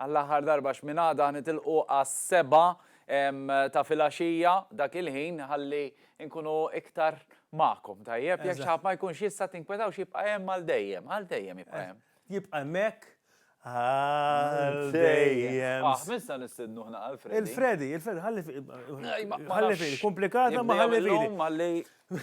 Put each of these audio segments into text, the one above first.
Għall-aħħar darba x'mingħada nitilqu għas-sebgħa ta' filgħaxija dak il-ħin ħalli nkunu iktar magħkom, tajjeb? Jekk xi ħadd ma jkunx jista' tinkwetawx jibqa' hemm għal dejjem, għal dejjem jibqa' hemm. Jibqa' hemmhekk għal dejjem. Aħ, min se nistednu aħna għal Freddy? Il-Freddy, il-Freddy, ħalli fih. Ħalli fih, komplikata ma ħalli fih. U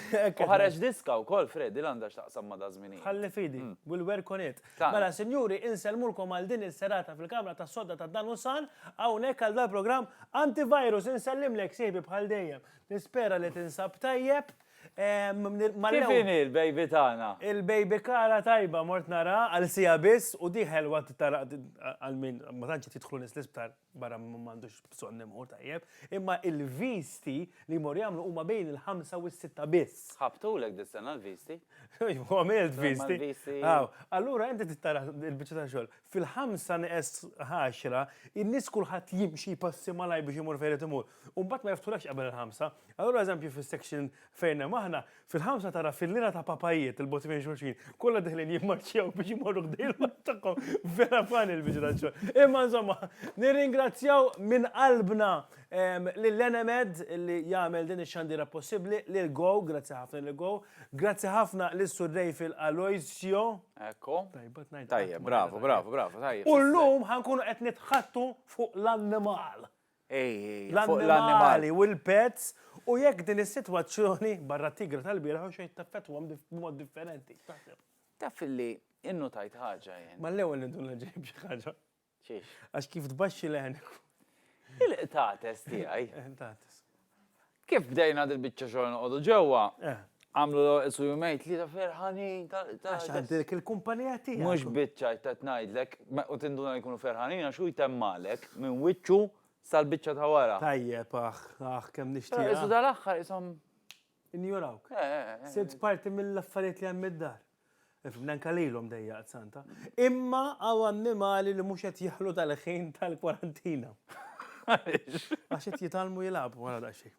ħareġ diska wkoll Freddy l-għandha x'taqsam ma' da żminijiet. Ħalli fidi, mm. will work on it. Mela sinjuri, insellmulkom għal din is-serata fil-Kamra tas-Sodda ta' Dan u San, hawnhekk għal dal-programm Antivirus insellimlek sieħbi bħal dejjem. Nispera li tinsab tajjeb. Kif il-baby tagħna? Il-baby kara tajba mort nara għal sija biss u diħel waqt tara għal min ma tantx tidħlu nis l-isptar. barra minn m'għandux bżonn imur tajjeb, imma l-visti li jmorru jagħmlu huma bejn il-ħamsa u s-sitta biss. Ħabtulek dis-sena l-visti? Iva, għamilt visti. Allura inti tittara l-biċċa ta' xogħol. Fil-ħamsa neqes ħaxra, in-nies kulħadd jimxi jpassi malaj biex imur fejn irid imur. U mbagħad ma jiftħulekx qabel il-ħamsa. Allura eżempju fis-section fejn hemm aħna, Fil-ħamsa tara fil-lira ta' papajiet il-bot fejn xulxin, kollha diħlin jimmarċjaw biex jmorru ħdejl ma' tagħhom. Vera fan il-biċra xogħol. Imma insomma, nirringrazzjaw minn qalbna lil Enemed li jagħmel din ix-xandira possibbli, lil Go, grazzi ħafna lil Go, grazzi ħafna lis Sur Rejfil Aloisio. Ekku. Tajba tnajt. Tajjeb, bravo, bravo, bravo, tajjeb. U llum ħankunu qed nitħattu fuq l-annimal. l-annimali u l-pets u jekk din is-sitwazzjoni, barra t-tigra tal-bieraħ, u xejn taffettwahom b'mod differenti. Taf li innutajt ħaġa jien. Ma l-ewwel intu nġib xi ħaġa. Xiex? Għax kif tbaxxi l-għenek. Il-qtates tiegħi. Qtates. Kif bdejna dil-biċċa xogħol noqogħdu ġewwa, għamlu l-orqes u jumejn tlieta ferħanin ta' Għax għandek il-kumpanija tiegħek. Mhux biċċa qed ngħidlek, u tinduna li jkunu ferħanin għax hu jtemmalek minn wiċċu sal-biċċa ta' wara. Tajjeb, aħ, aħ, kemm nixtieq. Isu dal-aħħar ishom. Injorawk. Sirt parti mill-affarijiet li hemm id-dar. Ifhimni anke lilhom dejjaqt santa. Imma hawn annimali li mhux qed jeħlu tal-ħin tal-kwarantina. Għaliex? Għax qed jitgħallmu jilagħbu wara daqsxejn.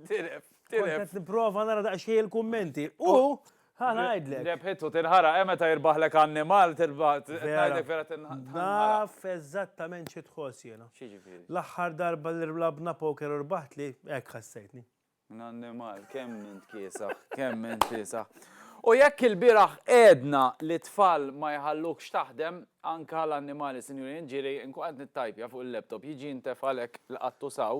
Diref. Kont qed nipprova nara daqsxejn il-kummenti u ħa ngħidlek. Rebħit u tinħaraq, hemm meta jirbaħlek annimal tirbaħ. Ngħidlek vera tinħaraq. Naf eżattament xi tħoss jiena. X'jiġifieri? L-aħħar darba li labna poker u rbaħt li hekk ħassejtni. Minn annimal, kemm int kiesaħ, kemm int kiesaħ. U jekk ilbieraħ għedna li t-tfal ma jħallukx taħdem, anke l-annimali, sinjuri, ġieli, nkun qed nittajpja fuq il-laptop, jiġi ntefgħalek l-qattu saw,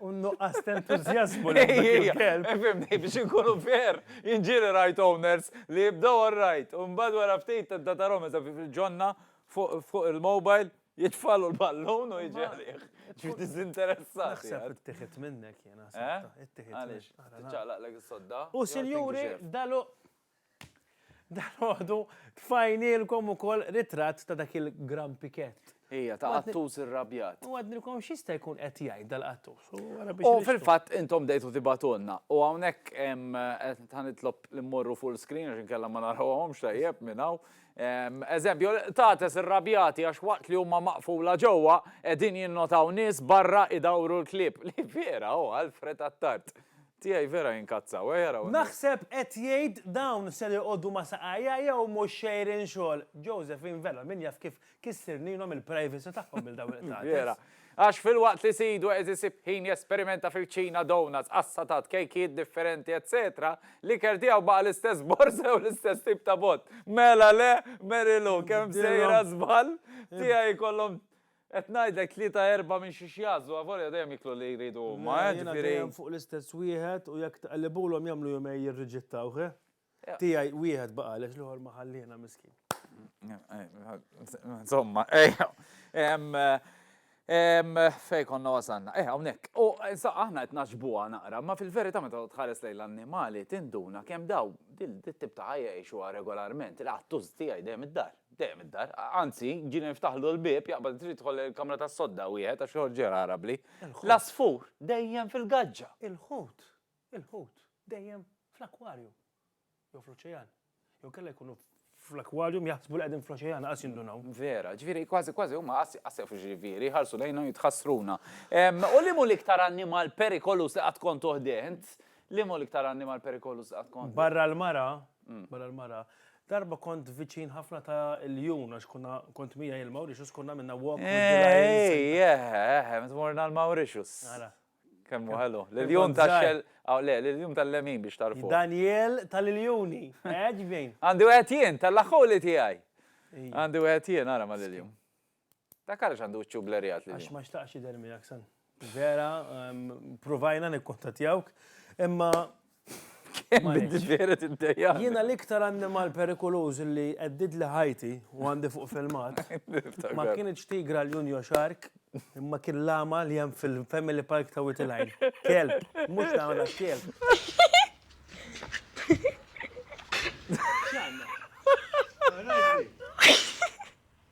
U nuqqas t-entużjażmu li kelb. Fimni, biex inkunu fair, jien ġieli rajt owners li jibdew all right, u mbagħad wara ftit tibda tarahom eżatt kif il-ġonna fuq il-mobile jitfagħlu l-ballun u jiġi għalih. Ġifieri diżinteressati. Naħseb ittieħed minnek jiena. Għaliex? Tiċċaqlaqlek is-sodda? U sinjuri, dal-għodu Dalgħodu tfajnielkom ukoll ritratt ta' dak il-Gran Pikett. Ija, ta' qattus irrabjat. U għadnilkom x'jista' jkun qed jgħid dal-qattus. U fil-fatt intom bdejtu tibagħtulna. U hawnhekk ta' nitlob li mmorru full screen għax inkella ma narawhomx tajjeb minn hawn. Eżempju, qtates irrabjati għax waqt li huma maqfula ġewwa qegħdin jinnotaw nies barra idawru l-klieb. Li vera, oh, Alfred Attard. Tiegħi vera jinkazzaw, eh araw. Naħseb qed jgħid dawn ser iqogħdu ma' saqajja jew mhux xejrin xogħol. Josephine Vella min jaf kif kissirnilhom il-privacy tagħhom lil dawn il-qtates. Vera. Għax filwaqt li sidu qed isib ħin jesperimenta fil-kċina donuts, qassatat, kejkijiet differenti etsetera, l-ikel tiegħu baqa' l-istess borża jew l-istess tip ta' bott. Mela le, Mary Lou, kemm sejra żball? Tiegħi jkollhom Qed ngħidlek tlieta erbgħa minn xiex jagħżlu, avolja dejjem jieklu li jridu huma, eh, ġifieri. Le, jiena dejjem fuq l-istess wieħed u jekk tqellibulhom jagħmlu jumejn jirriġittawh, eh. Tiegħi wieħed baqa' għaliex l-ieħor ma ħalliena miskin. Insomma, fejn konna wasalna? Eh, hawnhekk. U sa aħna qed naġbuha naqra, ma fil-verità meta tħares lejn l-annimali tinduna kemm daw dit-tip ta' ħajja jgħixuha regolarment, il-qattus tiegħi dejjem id-dar. Dejjem id-dar. Anzi, ġieli niftaħlu l-bieb, jaqbad trid tidħol il-kamra tas-sodda wieħed għax joħorġ riħ aħrabli. L-għasfur dejjem fil-gaġġa. Il-ħut, il-ħut dejjem fl-akkwarju jew fl-oċejan. Jew kellha jkunu fl-akkwarju jaħsbu li qegħdin fl-oċejan qas jindunaw. Vera, ġifieri kważi kważi huma qas jafu x'ġifieri, jħarsu lejna jitħassruna. U liemu l-iktar annimal perikoluż li qatt kont uħdint? Liemu l-iktar annimal perikoluż li qatt kont? Barra l-mara, barra l-mara, Darba kont viċin ħafna ta' Iljun għax konna kont miegħi il-Mauritius konna minna walk with the lions. Ejjeh, meta morna l-Mauritius. Ara. Kemm hu ħelu. L-Iljun ta' xell, le, l-Iljun tal-lemin biex tagħrfu. Daniel tal-Iljuni, għeġbin. Għandi wieħed jien, tal-aħħuli tiegħi. Għandi wieħed jien, ara mal-Iljun. Dak għaliex għandu wiċċu blerjat lil. Għax ma xtaqx jidher miegħek san. Vera, provajna nikkontattjawk, imma Vera tiddejja. Jiena l-iktar annimal perikoluż li għeddid li ħajti u għandi fuq filmat. Ma kienx tigra l-Junjo Shark, imma kien lama li hemm fil-Family Park ta' Witilajn. Kelb, mhux ta' għana kelb.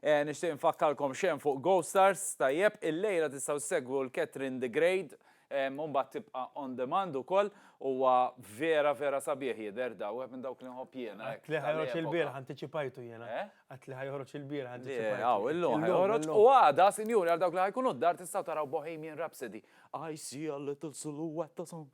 Nixtieq infakkarkom x'hemm fuq GoStars, tajjeb, illejla tistgħu ssegwu l-Catherine the Great, u mbagħad tibqa' on demand ukoll, huwa vera vera sabiħ jidher daw, wieħed minn dawk li nħobb jiena hekk. Għedt li ħa joħroġ il-bieraħ antiċipajtu jiena. Eh? Għedt li ħa joħroġ il-bieraħ antiċipajtu. Le, hawn illum ħa joħroġ u għada, sinjuri, għal dawk li ħa jkunu d-dar tistgħu taraw Bohemian Rhapsody. I see a little silhouette of some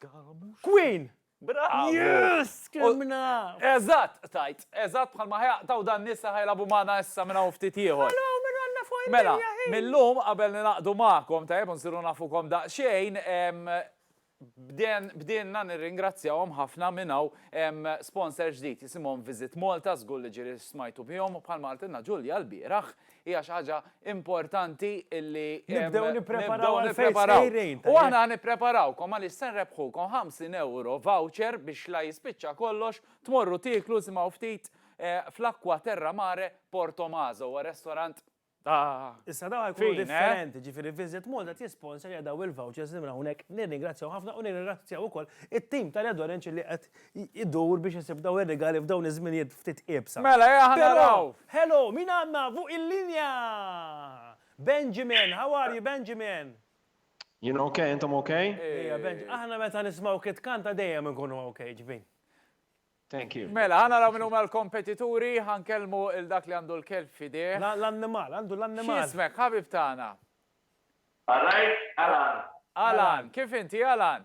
girl. Queen! Bravu! Yes! Kemm naf! Eżatt, qtajt. Eżatt bħalma ħajaqtgħu dan nies li ħajlagħbu magħna issa minn hawn ftit ieħor. Ħallow minn Alla fuq id-dinja ħin! Mela, mil-lum qabel ningħaqdu magħkom, tajjeb, u nsiru nafukom daqsxejn, bdejna nirringrazzjawhom ħafna minn hawn sponsor ġdid jisimhom Visit Malta, żgur li ġieli smajtu bihom, u bħalma qaltilna Ġulja lbieraħ, hija xi ħaġa importanti illi nibdew nippreparaw nippreparaw. U aħna nippreparawkom għaliex se nrebħukom 50 euro voucher biex la jispiċċa kollox tmorru tieklu simgħu ftit fl-Acqua Terra Mare Porto Maso, huwa restorant Issa daw jkunu eh? differenti, ġifiri Visit Malta tisponsor jadaw il-vouchers li hawnhekk nirringrazzjaw ħafna u nirringrazzjaw ukoll it-tim tal-Edorenċ li qed idur biex isib dawn ir-rigali f'dawn iż-żminijiet ftit iebsa. Mela, ejja ħa naraw! Hello, min għandna fuq il-linja? Benjamin, how are you Benjamin? Jien ok, intom ok? Ejja Benjamin, aħna meta nismgħuk itkanta dejjem inkunu ok, ġbin. Thank you. Mela, ħa naraw min huma l-kompetituri, ħa nkellmu il dak li għandu l-kelb f'idejh. L-annimal, għandu l-annimal. X'ismek, ħabib tagħna? All right, Alan. Alan, kif inti Alan?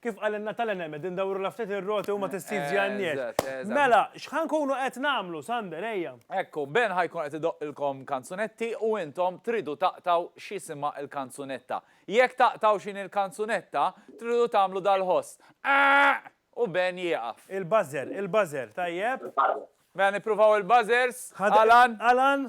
Kif qalilna Talen Hemed, indawrulha ftit ir-roti u ma tissizzjanniex. Mela, x'ħa nkunu qed nagħmlu, Sander, ejja. Ekku, Ben ħa jkun qed idoqqilkom kanzunetti u intom tridu taqtgħu x'jisimha l-kanzunetta. Jekk taqtgħu x'inhi l-kanzunetta, tridu tagħmlu dal-ħoss, Eeq! u Ben jieqaf. Il-buzzer, il-buzzer, tajjeb. Mela nippruvaw il-buzzers, Alan. Alan.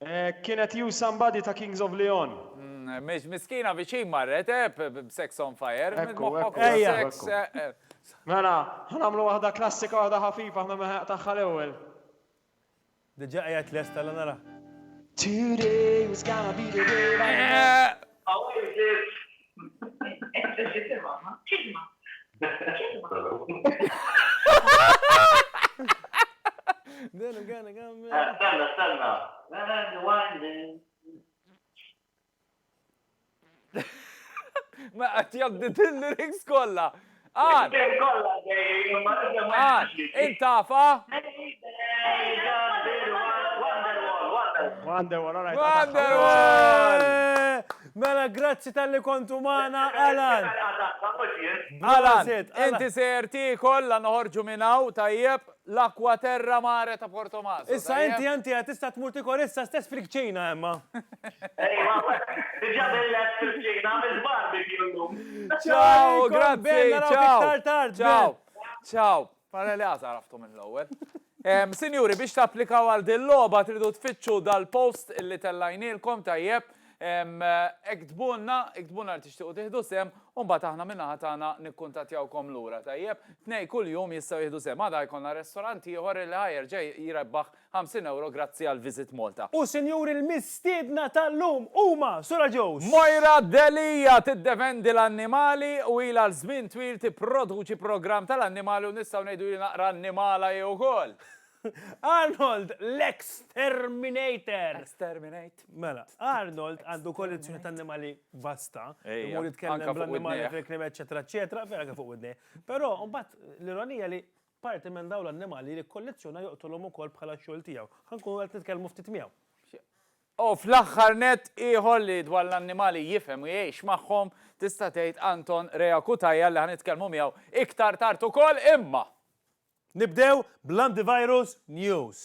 Hekk kien qed you somebody ta' Kings of Leon. Mhix miskina viċin marret, eh, b'Sex on Fire. Ekku, ekku, ekku. Moħħok fuq sex, eh, eh. Mela, ħa nagħmlu waħda klassika, waħda ħafifa, aħna mehheq tagħha l-ewwel. Diġà qiegħed lest alla nara. Today was gonna be the day that I met. Hawn imġiet Ma għat jabdit il-lyrics kolla. Qal. Qal. Int afha? Wonderwall, alright. Wonderwall! Mela grazzi talli kontu magħna, Alan. Alan, inti sejjer tiekol la noħorġu minn hawn, tajjeb? L-Acqua Terra Mare ta' Portomaso. Issa inti enti qed tista' tmur tikol issa stess fil-kċina imma. Ejwa, diġa billgħet fil-kċina, għamilt barbecue llum. Ciao, grazzi, ciao. Ciao. Ciao. Ara li għażha għaraftu mill-ewwel. Sinjuri, biex tapplikaw għal dil-logħba tridu tfittxu dal-post li tellajnielkom tajjeb. Iktbulna, iktbulna li tixtiequ tieħdu sehem u mbagħad aħna min-naħa tagħna nikkuntattjawkom lura, tajjeb? Tnejn kuljum jistgħu jieħdu sehem. Għada jkollna restorant ieħor li ħa jerġa' jrebbaħ 50 ewro grazzi għal Visit Malta. U sinjuri l-mistiedna tal-lum huma Sura Joes. Moira Delia tiddefendi l-annimali u ilha għal żmien twil tipproduċi programm tal-annimali u nistgħu ngħidu hi naqra annimala hi wkoll. Arnold l-Exterminator. Exterminator. Mela, Arnold għandu kollezzjoni ta' annimali vasta, imur jitkellem bl-annimali fil-krim, eccetera, eccetera, vera kif fuq id Però, mbagħad, l-ironija li parti minn dawn l-annimali li kollezzjona joqtolhom ukoll bħala xogħol tiegħu. Ħankun qed nitkellmu ftit miegħu. U fl-aħħar net ieħor li dwar l-annimali jifhem u jgħix magħhom tista' tgħid Anton Rea Cutaia li ħanitkellmu miegħu iktar tard ukoll imma. Nibdew bl-antivirus news.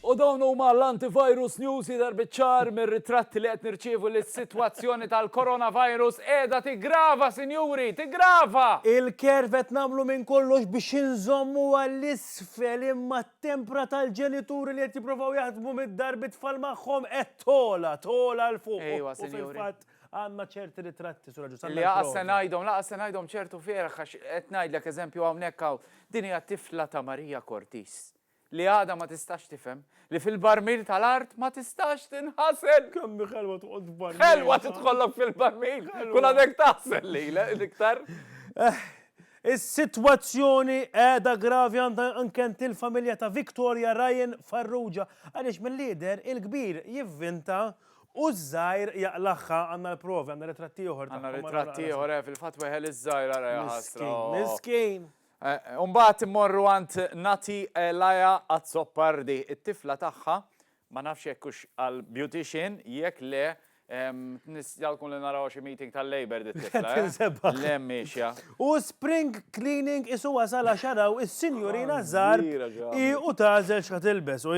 U dawn huma l-antivirus news jidher biċ-ċar mir-ritratti li qed nirċievu li s-sitwazzjoni tal-coronavirus qiegħda tiggrava sinjuri, tiggrava! Il-care qed nagħmlu minn kollox biex inżommuha 'l isfel imma t-tempra tal-ġenituri li qed jipprovaw jaħdmu mid-dar bit-tfal magħhom qed togħla, togħla 'l fuq u fil-fatt Għandna ċerti ritratti, Sur Agius, għandna ċerti ritratti. Li laqas se ngħidhom, laqas se ngħidhom ċertu fierħ għax qed ngħidlek eżempju hawnhekk hawn, din hija tifla ta' Marija Cortis li għadha ma tistax tifhem li fil-barmil tal-art ma tistax tinħasel! Kemm hi ħelwa toqgħod f'barmil! Ħelwa tidħollok fil-barmil! Kun għadek taħsel lilha iktar! Is-sitwazzjoni qiegħda gravi għandha anke għand il-familja ta' Victoria Ryan Farrugia għaliex mill-jidher il-kbir jivvinta U ż-żgħir jaqlagħha, għandna l-provi, għandna ritratt ieħor tagħhom. Għandna ritratt ieħor, eh, fil-fatt weħel iż-żgħir ara ja ħasra. Miskin, oh. miskin. Eh, u mbagħad immorru għand Nati Elaja Azzopardi, it-tifla tagħha, ma nafx jekk hux għal beautician, jekk le Jalkun li naraw xi meeting tal-Labor dit L-emmixja. U spring cleaning isu wasala xaraw is-sinjurina żar i u tażel x'ħatilbes u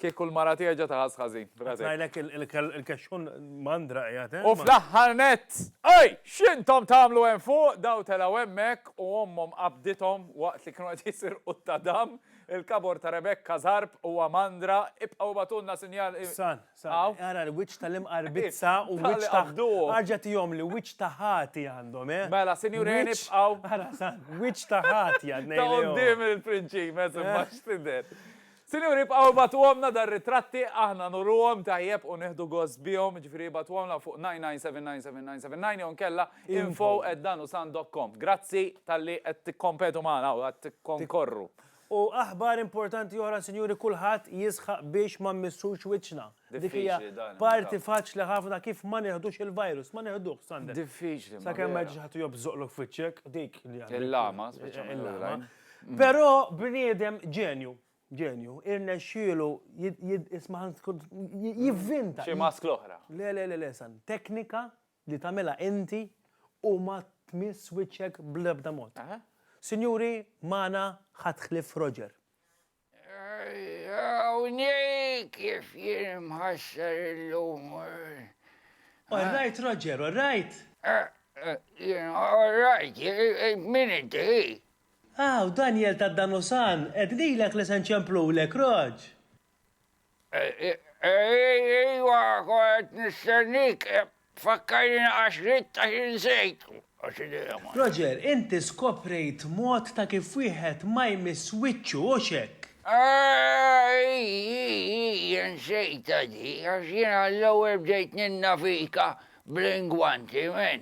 Kieku l-mara tiegħi ġa taħass ħażin. B'rasek. Ngħidlek il-kexxun mandra qiegħed hemm. U fl-aħħar nett, ej! X'intom tagħmlu hemm fuq? Daw telgħu hemmhekk u ommhom qabdithom waqt li kienu qed jisirqu t-tadam, il-kabor ta' Rebekka żarb huwa mandra, ibqgħu ibagħtulna sinjal. San, san, ara l-wiċċ tal-imqarbizza u wiċċ ta'. Qabduhom. Arġa' tihom li wiċċ ta' ħati għandhom, eh? Mela, sinjurien ibqgħu. Ara, san, wiċċ ta' ħati għad ngħidilhom. Ta' quddiem il-prinċimes imma x'tidher. Sinjuri ibqgħu ibagħtuhomlna dar-ritratti aħna nuruhom tajjeb u nieħdu gost bihom, jiġifieri ibagħtuhomlna fuq 99799979 jew inkella info@danusan.com. Grazzi talli qed tikkompetu magħna u qed tikkonkorru. U aħbar importanti oħra sinjuri kulħadd jisħaq biex ma mmissux wiċċna. Dik hija parti faċli ħafna kif ma neħdux il-virus, ma neħduh, Sander. Diffiċli. Sa kemm ma ġiġ ħadd jobżoqlok fiċċek, dik li għandek. Il-lama, speċjalment. Mm. Però bniedem ġenju, ġenju, irnexxielu jisma' jivvinta. Xi mask l-oħra. Le, le, le, le, san. Teknika li tagħmilha inti u ma tmiss wiċċek bl-ebda mod. Sinjuri, mana ħatħlif Roger. Hawnhekk kif jien imħassar illum. All right, Roger, all right. Jien, all right, min inti? Hawn, Daniel tad-Danusan, qed ngħidlek li se nċemplulek, Rog. Ejwa, qed nistennik, fakkarni għax ridt għax insejt. Roger, inti skoprejt mod ta' kif wieħed ma jmiss wiċċu, hux hekk? Ii, insejtha di, għax jien għall-ewwel bdejt ninnavika bl-ingwanti, min.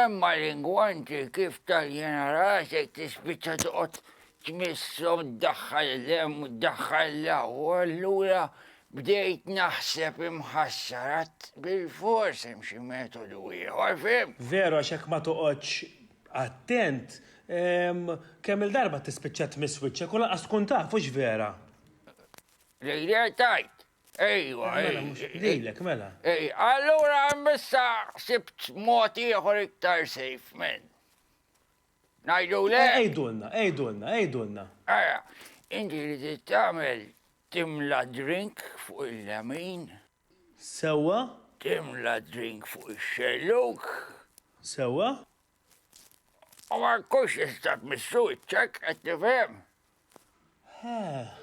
Imma l-ingwanti kif tal-jena rasek tispiċċa toqgħod Tmissu ddaħħal l-hemm u ddaħħal l-hawn u allura bdejt naħseb imħassar għad bilfors hemm xi metodu ieħor, fhimt? Veru għax jekk ma toqgħodx attent, kemm-il darba tispiċċa tmiss wiċċek u lanqas tkun taf, hux vera? Lejlek tgħid? Ejwa, ej. Mela mhux lilek, mela. Ej, allura hemm issa ħsibt mod ieħor iktar safe, men. Ngħidu le? Għidulna, għidulna, għidulna. Ara, inti li trid tagħmel timla drink fuq il-lemin. Sewwa. Timla drink fuq ix-xellug. Sewwa. U ma nkunx tista' tmissu wiċċek, qed tifhem? Heh.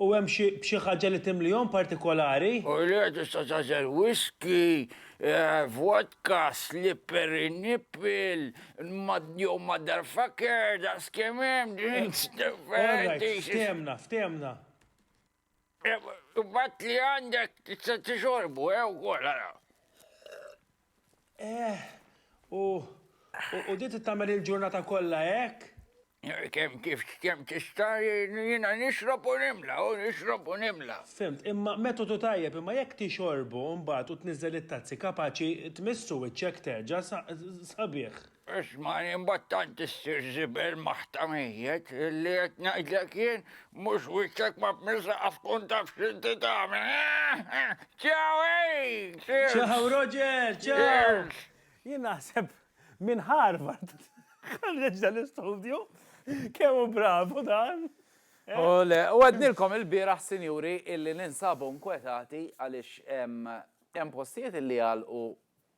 U hemm xi ħaġa li timlihom partikolari? U le tista' tażel whisky, eh, vodka, slippery nipple, jew motherfucker, daqs kemm hemm drinks differenti. All right, ftehimna, ftehimna. Bat li għandek tista' tixorbu, eh, ukoll ara. Eh, u u dit tagħmel il-ġurnata kollha hekk? Kem kif kem tista' jiena nixrob u nimla, u nixrob u nimla. Fimt, imma metodu tajjeb, imma jekk tixorbu mbagħad u tniżżel it-tazzi kapaċi tmissu wiċċek terġa' sabiħ. Isma' imbagħad tant issir żibel ma' ħtamijiet li qed ngħidlek jien mhux wiċċek ma' b'milsa qaf tkun taf x'inti tagħmel. Ciao hey! Cheers! Ciao Roger! Ciao! Jien naħseb minn Harvard ħarreġ dan l-istudju. Kemm hu bravu dan! Ole! U għednilkom ilbieraħ, sinjuri, illi ninsabu nkwetati għaliex hemm postijiet illi għalqu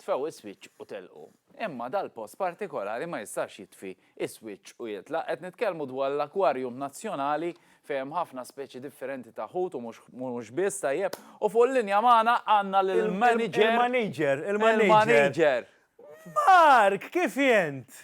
Tfew is-swiċċ u telqu. Imma dal-post partikolari ma jistax jitfi is-swiċċ u jitlaq. Qed nitkellmu dwar l-Akwarjum Nazzjonali fejn hemm ħafna speċi differenti ta' ħut u mhux biss, tajjeb. U fuq il-linja magħna għandna lill-manager. Il-manager, il-manager. Il-manager. Mark, kif int?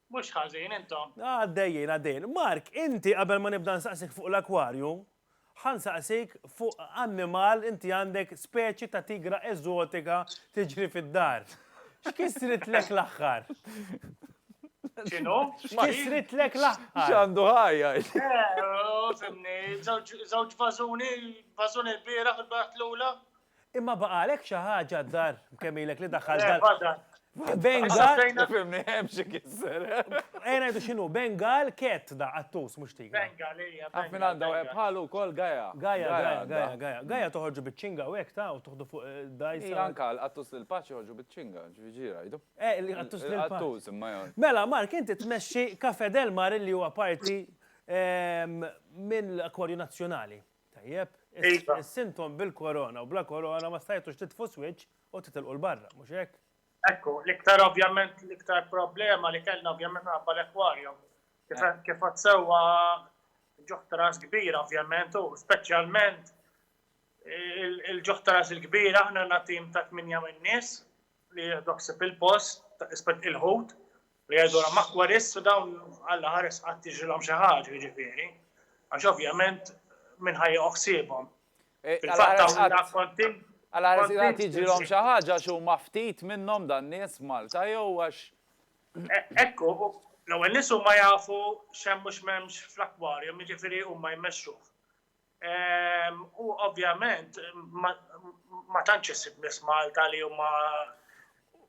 Mhux ħażin, intom. Għaddejjin, għaddejjin. Mark, inti qabel ma nibda nsaqsik fuq l-akwarju, ħa nsaqsik fuq annimal inti għandek speċi ta' tigra eżotika tiġri fid-dar. X'kissritlek l-aħħar? X'inhu? X'kissritlek l-aħħar? X'għandu ħajja? Eh, żewġ vażuni, vażuni l-bieraħ u l-bieraħ l-ula. Imma baqalek xi ħaġa d-dar kemm ilek li daħħal dar. Bengal. Fimni hemm xi kisser. Ejja ngħidu x'inhu Bengal cat da qattus mhux tigra. Bengal hija. Taf min għandha wieħed bħalu wkoll Gaja. Gaja, Gaja, Gaja. Gaja toħorġu biċ-ċinga u hekk ta' u toħdu fuq dgħajsa. Hi anke l-qattus lil paċi joħorġu biċ-ċinga, ġifieri jgħidu. Eh, il-qattus lil paċi. Il-qattus imma jgħid. Mela Mark inti tmexxi Cafè Del Mar li huwa parti mill-Akwarju Nazzjonali. Tajjeb, is-sintom bil-korona u bla korona ma stajtux titfu s-swiċċ u titilqu 'l barra, mhux hekk? Ekku, l-iktar ovvjament l-iktar problema li kellna ovvjament minħabba l-aquarium. Kif għadt sewwa ġuħ tras kbir ovvjament u speċjalment il-ġuħ tras il-kbir aħna għandna tim ta' tmienja min-nies li jieħdu ħsieb il-post, il-ħut, Li jgħidulhom aquarists u dawn Alla ħares qatt jiġrilhom xi ħaġa, jiġifieri, għax ovvjament min ħa jiequ ħsiebhom. Eh, Fil-fatt hawn kont Alla ħares qatt jiġrilhom xi ħaġa għax huma ftit minnhom dan nies Malta jew għax. E, ekku, l-ewwel nies huma jafu x'hemm mhux m'hemmx fl-akwarjum, jiġifieri huma jmexxuh. U ovvjament ma tantx issib nies Malta li huma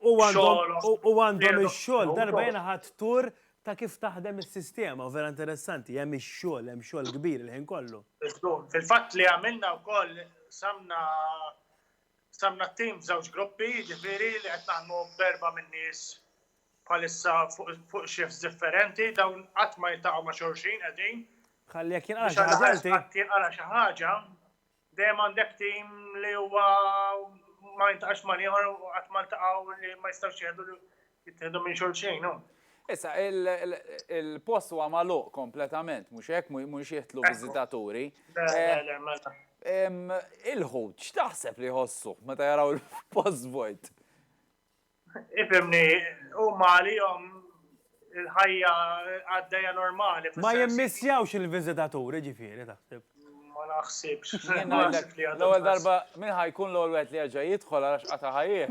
u għandhom ix-xogħol darba jiena ħadd tur ta' kif taħdem is-sistema u vera interessanti hemm ix-xogħol, hemm xogħol kbir il-ħin kollu. Fil-fatt li għamilna wkoll qsamna qsamna t-tim f'żewġ gruppi, jiġifieri li qed naħdmu b'erba' min-nies bħalissa fuq shifts differenti, dawn qatt ma jiltaqgħu ma' xulxin qegħdin. Ħalli jekk jinqala' xi ħaġa inti. Jekk jinqala' xi ħaġa, dejjem għandek tim li huwa ma jiltaqax ma' ieħor u qatt ma ltaqgħu li ma jistgħux jieħdu jittieħdu minn xulxin. Issa, il-post huwa magħluq kompletament, mhux hekk, mhux jidħlu viżitaturi. Il-ħut, x'taħseb li jħossu meta jaraw il-post vojt? Ifimni, huma għalihom il-ħajja għaddejja normali. Ma jimmissjawx il-viżitaturi ġifieri taħseb. Ma naħsibx. L-ewwel darba minn ħajkun l-ewwel wieħed li jerġa' jidħol għax qata' ħajjih.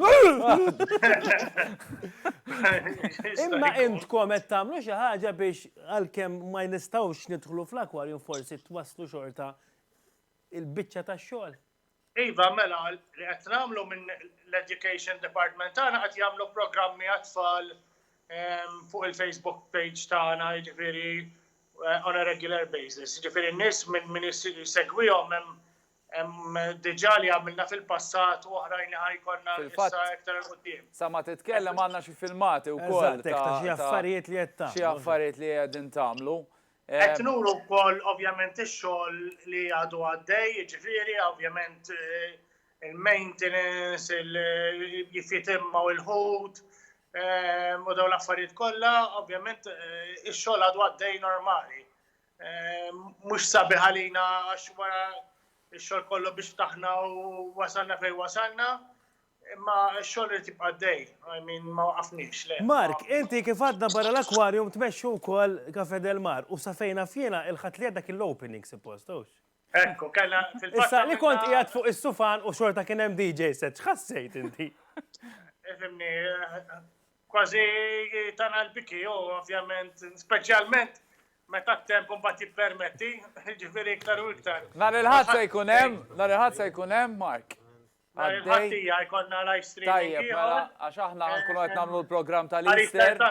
Imma intkom qed tagħmlu xi ħaġa biex għalkemm ma nistgħux nidħlu fl-akwarjum forsi twasslu xorta il-biċċa tax-xogħol. Iva, mela, li qed nagħmlu minn l-Education Department tagħna qed jagħmlu programmi għat-tfal fuq il-Facebook page tagħna, jiġifieri eh, on a regular basis. Jiġifieri n-nies minn min jsegwihom hemm diġà li għamilna fil-passat u oħrajn li ħajkonna issa iktar il-qudiem. Sa ma titkellem għandna xi filmati wkoll. Xi affarijiet li qed Xi affarijiet li qegħdin tagħmlu. Qed nuru wkoll ovvjament ix-xogħol li għadu għaddej, jiġifieri ovvjament il-maintenance, jifitimmaw il-ħut, u dawn l-affarijiet kollha, ovvjament ix-xogħol għadu għaddej normali. Mhux sabiħ għalina għax wara x-xogħol kollu biex ftaħna u wasalna fejn wasalna, Imma x-xogħol irid jibqa' għaddej, I mean ma waqafniex, le. Mark, inti kif għadna barra l-aquarium tmexxi wkoll Cafè del Mar u sa fejn naf jiena il-Ħadd li għadda kien l-opening suppost, hux? Hekk, kellna fil-fatt. Issa li kont qiegħed fuq is-sufan u xorta kien hemm DJ set, x'ħassejt inti? Ifhimni, kważi tana l-biki u ovvjament, speċjalment meta t-temp imbagħad jippermetti, jiġifieri iktar u iktar. Nhar il-Ħadd se jkun hemm, nhar il-Ħadd se jkun hemm, Mark? Nhar il-Ħaddija jkollna live streaming ieħor. Tajjeb, mela, għax aħna ħankunu qed nagħmlu l-programm tal-Easter.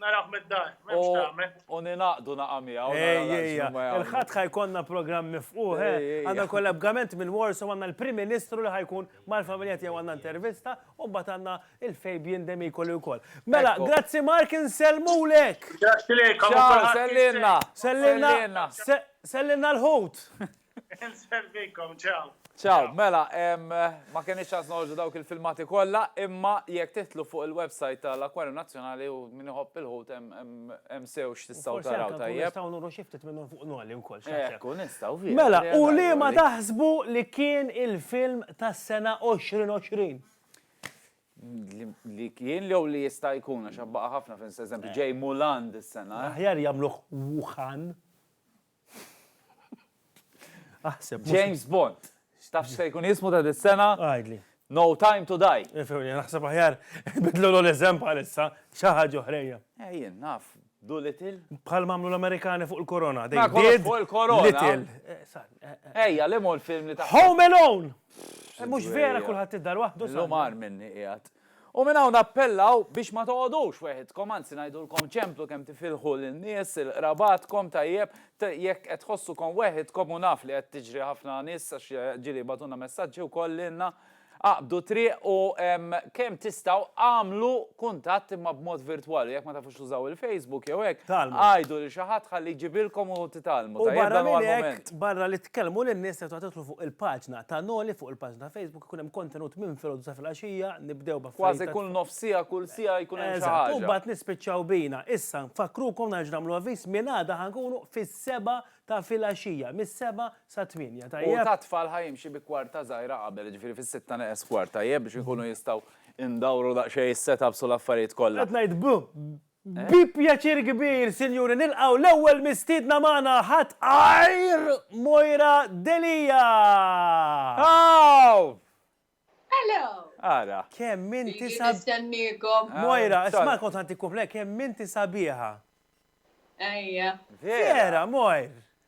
Naraw mid-dar, m'hemmx tagħmel. U ninaqdu naqa' miegħu. Ejja, il-Ħadd ħajkollna programm mifqugħ, eh. Għandna kollaborazzjoni minn Warsaw, għandna l-Prim Ministru li ħajkun mal-familja tiegħu għandna intervista, u mbagħad għandna il-Fabian Demikoli wkoll. Mela, grazzi Mark, insellmulek! Grazzi lilkom. Sellilna. Sellilna l-ħut. Nservikom, ċaw. Ċaw, mela, ma kenix ċans noħorġu dawk il-filmati kollha, imma jekk titlu fuq il-website tal-Akwarju Nazzjonali u min iħobb il-ħut hemm sew x'tistgħu taraw tajjeb. Nistgħu nuru xi ftit minnhom fuq noli wkoll. Ekku, nistgħu fih. Mela, u li ma taħsbu li kien il-film tas-sena 2020? Li kien li jew li jista' jkun għax baqa' ħafna films, eżempju, ġej Mulan dis-sena. Aħjar jagħmluh Wuhan. Aħseb. James Bond. X'taf se jkun jismu ta' dis-sena? Għajdli. No time to die. Ifewni, eh, naħseb aħjar bidlu l-eżem bħalissa, xaħġa oħrejja. Ejjien, eh, naf, du little. Bħal mamlu l-Amerikani fuq il-korona. Ma kollox fuq il-korona. Little. Eh, Ejja, li mol film li ta' Home Alone! Mux vera kullħat id-dar wahdu. L-umar minni qiegħed. U minn hawn nappellaw biex ma toqgħodux weħidkom, anzi ngħidulkom ċemplu kemm tifilħu lin-nies, il-qrabatkom, tajjeb, jekk qed tħossukom weħidkom u naf li qed tiġri ħafna nies għax ġieli jibgħatulna messaġġi wkoll lilna, aqbdu triq u kemm tistgħu agħmlu kuntatt imma b'mod virtwali, jekk ma tafux tużaw il-Facebook jew hekk, għidu lil xi ħadd ħalli jġibilkom u titgħallmu, tajjeb dan huwa l-mument. U barra minn hekk, barra li tkellmu lin-nies tistgħu tidħlu fuq il-paġna ta' Noli fuq il-paġna ta' Facebook, Ikun hemm kontenut minn filgħodu sa filgħaxija, nibdew b'affarijiet. Kważi kull nofs siegħa, kull siegħa jkun hemm xi ħaġa. Eżatt, u mbagħad nispiċċaw bina. Issa, nfakkrukom nerġa' nagħmlu avviż, minn għada ħa nkunu fis-sebgħa ta' filgħaxija, mis-sebgħa sat-tmienja, tajjeb? U tat-tfal ħa jimxi bi kwarta żgħira qabel, jiġifieri fis-sitta neqes kwart, tajjeb, biex inkunu jistgħu ndawru daqsxejn is-set ups u l-affarijiet kollha. Qed ngħid b', Bi pjaċir kbir, sinjuri, nilqgħu l-ewwel mistiedna magħna, ħadd għajr Moira Delia! Aww! Hello! Ara. Kemm inti sabiħa. Ilni nistenniekom. Moira, isma' kont ħantik kumpliment, kemm inti sabiħa. Ejja. Vera, Moir!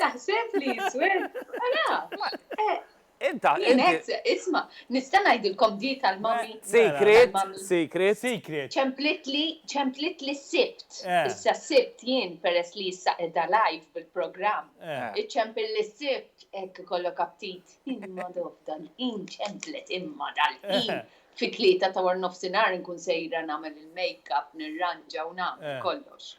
Taħseb li jiswed? Inta, isma, nista' ngħidilkom di tal-mami. Secret, secret. Secret. Ċemplitli, ċemplitli s-sibt. Eh. Issa s-sibt jien peress li issa edha live bil-programm. Eh. Iċempil li s-sibt hekk ikollok aptit. Imma dofdan, in ċemplet imma dal in eh. Fi tlieta ta' war nofsinhar nkun sejra nagħmel il-makeup, nirranġa u nagħmel kollox.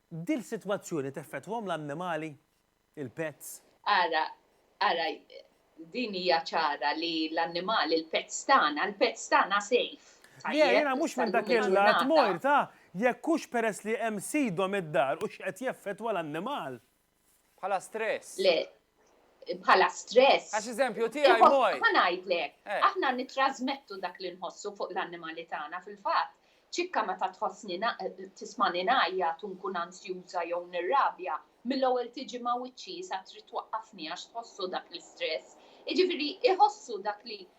Dil sitwazzjoni teffettwahom l-annimali? Il-pets? Ara, ara, din hija ċara li l-annimali, il-pets tagħna, il-pets tagħna safe, tajjeb, sal-lum il-ġurnata. Le, jiena mhux minn dak il-lat mort, ah, jekk hux peress li hemm sidhom id-dar hux qed jeffettwa l-annimal. Bħala stress. Le, bħala stress. Għax eżempju tiegħi moj. Ma ngħidlek, eh. aħna nittrażmettu dak li nħossu fuq l-annimali tagħna fil-fatt. Ċikka meta tħossni tismani ngħajja tunkun ansjuża jew nirrabja, mill-ewwel tiġi ma' wiċċi sa trid twaqqafni għax tħossu dak l-istress. Jiġifieri iħossu dak li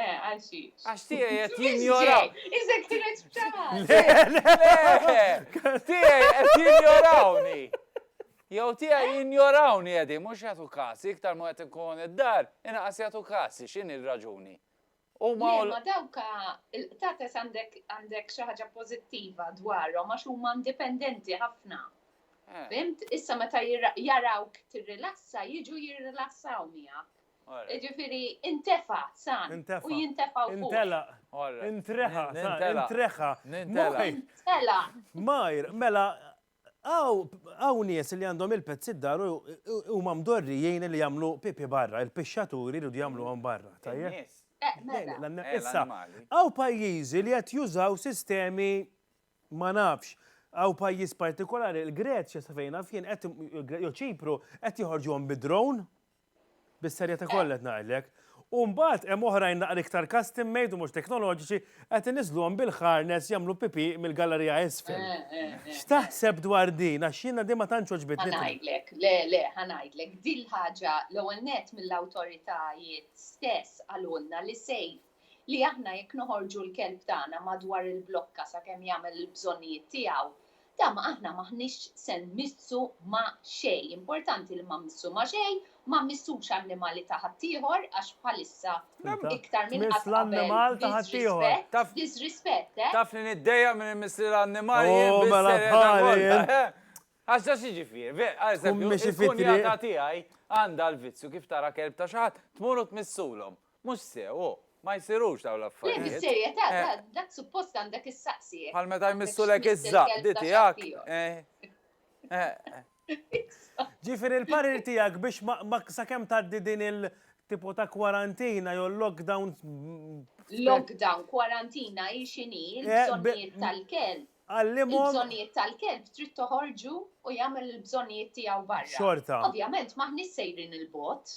Eh, għal xi. Għax tiegħi qed jinjoraw. Iżek kienet bċaħat. Tiegħi qed jinjorawni. Jew tiegħi eh? jinjorawni qegħdi mhux jagħtu każ, iktar ma qed inkun id-dar, inqas jagħtu każ, x'in ir-raġuni. U ma dawka il-qtates għandek għandek xi ħaġa pożittiva dwarhom għax huma indipendenti ħafna. Eh. Fimt, issa meta jarawk tirrilassa, jiġu jirrilassaw miegħek. Jiġifieri intefa' san u jintefa' wkoll. Intelaq. Intreħa. Intreħa. Nintelaq. Intelaq. Mgħajr, mela hawn nies li għandhom il-pets id-dar u huma mdorrijin li jagħmlu pipi barra, il-pixxaturi jridu jagħmluhom barra, tajjeb? Issa, hawn pajjiżi li qed jużaw sistemi ma nafx, hawn pajjiż partikolari, il-Greċja sa fejn naf jien qed jew Ċipru qed joħorġuhom bi-drone. Bis-serjetà kollha qed ngħidlek. U mbagħad hemm oħrajn naqra iktar custom made u mhux teknoloġiċi qed iniżżluhom bil-harness jagħmlu pipì mill-gallerija isfel. X'taħseb dwar din għax jiena din ma tantx għoġbitni. Ħa ngħidlek, le, le, ħa ngħidlek. Din l-ħaġa l-ewwel nett mill-awtoritajiet stess qalulna li safe. li aħna jekk noħorġu l-kelb tagħna madwar il-blokka sakemm jagħmel il-bżonnijiet tiegħu, da ma aħna m'aħniex se nmissu ma' xejn. Importanti li ma mmissu ma' xejn, ma mmissux annimali ta' ħaddieħor għax bħalissa iktar minn qatt qabel disrispett, disrispett, eh! Taf li niddejjaq minn immiss lil annimali jien bis-serjetà kollha, eh! Għax da x'jiġifieri, ve, għażempju, il-kunjata tiegħi għandha l-vizzju kif tara kelb ta' xi ħadd tmur u tmissulhom. Mhux sew, hu, ma jsirux dawn l-affarijiet. Le, bis-serjetà, dak suppost għandek issaqsih. Bħal meta jmissulek iż-żaqqdi tiegħek, eh. Ġifieri l-parir tiegħek biex sakemm tgħaddi din il tipo ta' kwarantina jew lockdown. Lockdown, kwarantina hi x'inhi, il-bżonnijiet tal-kelb. Għallimhom. Il-bżonnijiet tal-kelb trid toħorġu u jagħmel il-bżonnijiet tiegħu barra. Xorta. Ovvjament m'aħniex sejrin 'il bogħod.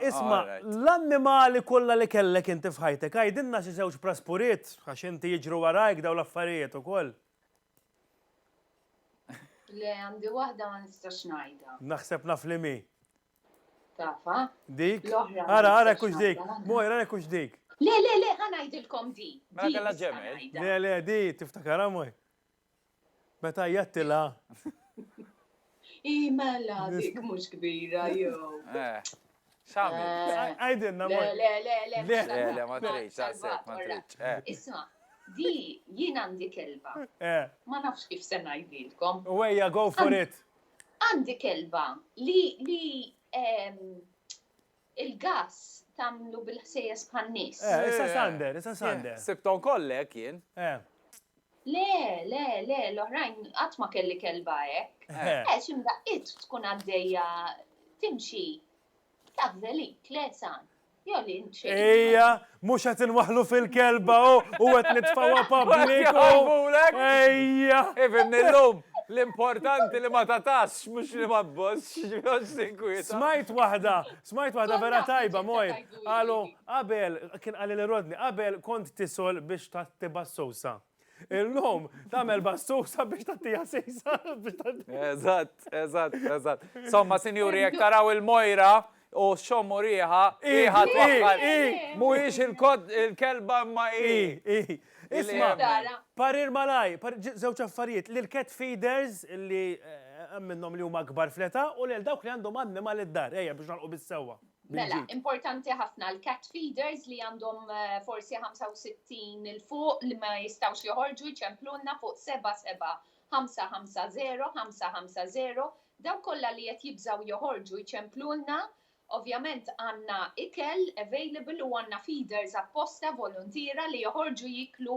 Isma', l-annimali kollha li kellek inti f'ħajtek, għidilna xi żewġ praspuriet, għax inti jiġru warajk dawn l-affarijiet ukoll. Le, għandi waħda ma nistax ngħidha. Naħseb naf li m'hi. Tafha? Dik? L-oħra. Ara, ara jekk hux dik. Moira, jekk hux dik. Le, le, le, ħa ngħidilkom di. Mela kellha ġemel. Le, le, di tiftakarha, Moira. Meta għajjattilha. Hi mela dik mhux kbira jew. Eh. X'għamil? Eh. Għidilna Le, le, le, le. Le, le, ma tridx, għasek, ma tridx. Eh. Isma', di jien għandi kelba. Eh. Ma nafx kif se ngħidilkom. Wejja, go for it. Għandi kelba li li ehm, Il-gass tagħmlu bil-ħsejjes bħan-nies. Eh, issa Sander, issa Sander. Sibthom kollha hekk jien. Eh. Le, le, le, l-oħrajn qatt ma kelli kelba hekk. Eh. eh, xi mdaqqiet tkun għaddejja timxi taf żelik, le san. Jolli int xejn. Ejja, Mhux qed inwaħħlu fil-kelba u qed nitfgħuha public u. Ejja! Ifhimni llum, l-importanti li ma tagħtasx mhux li ma tbossx, għax tinkwieta. Smajt waħda, smajt waħda vera tajba, Mojn, qalu qabel, kien qalilha Rodney, qabel kont tisol biex tgħatti bas-sowsa. Illum, tamel bassusa biex tattija sisa. Eżatt, eżatt, eżatt. Somma, sinjuri, jek taraw il-mojra u xommu riħa, iħa twaħħal. Mujiex il-kod il-kelba ma i. Isma, parir malaj, zewċ affarijiet, li l-cat feeders li eh, minnom li huma kbar fleta u li l-dawk li għandhom għadni mal-id-dar, eja biex nalqu bis-sewa. Mela, importanti ħafna l-cat feeders li għandhom eh, forsi 65 il-fuq li ma jistawx joħorġu jċemplunna fuq 77-550-550 daw kollha li qed jibżaw joħorġu jċemplunna Ovvjament għanna ikel available u għanna feeders apposta volontira li joħorġu jiklu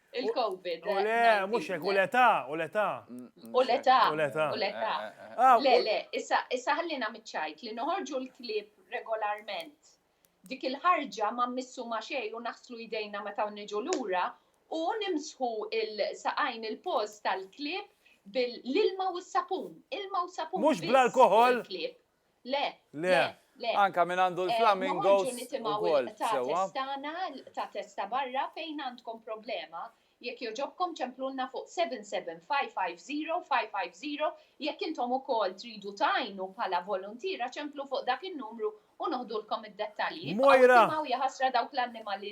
Il-COVID. U le, mhux hekk, u l-età, u l-età. U l-età. U l-età. U l-età. Ah, Le, u- le, issa, issa ħallina miċ-ċajt li noħorġu l-klieb regolarment. Dik il-ħarġa ma mmissu ma' xejn u naħslu jdejna meta niġu lura u nimsħu l-saqajn il-post tal-klieb bil-ilma u s-sapun. Ilma u sapun. Mhux biss bl-alkoħol? fuq il-klieb. Le, le, le. Anka min għandu eh, l-flamingos ukoll sewwa. Tagħna ta' testa barra fejn għandkom problema jekk joġobkom ċemplunna fuq 77550 jekk intom ukoll tridu tajnu bħala volontira ċemplu fuq dak in-numru u noħdulkom id-dettalji. Mojra! Jaħasra dawk l-annimali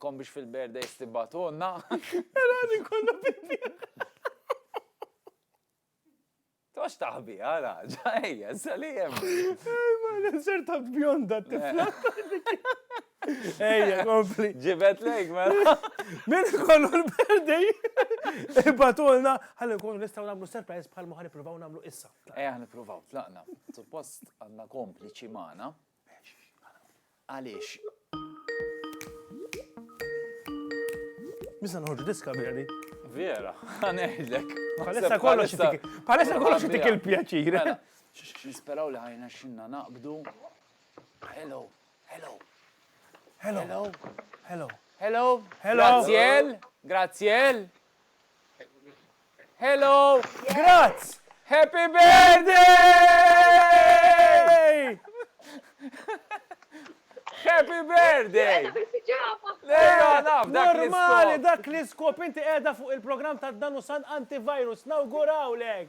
Kom biex fil-birthdays tibbatulna. Era li kollha pipi. Tox taħbi, għara, ġajja, sali jem. Ma l-inser ta' bjonda tifla. Ejja, kompli. Ġibet lejk, ma. Mela. Min kollu l-berdej. Ibatulna, għalli nkunu nistaw namlu surprise bħal muħan nipruvaw namlu issa. Ejja, nipruvaw, tlaqna. Suppost għanna kompliċi maħna. Għaliex? Nista' noħorġu diska bjani. Vera, għanejlek. Palessa kollox itik. Palessa kollox itik il-pjaċir. Mela, nisperaw li ħajna xinna naqbdu. Hello, hello. Hello. Hello. Hello. Hello. Graziel. Graziel. Hello! Grazz! Happy birthday! Happy birthday! Lejla naf dak li Normali dak li skop inti qiegħda fuq il-programm ta' Danu San Antivirus. Nawgurawlek!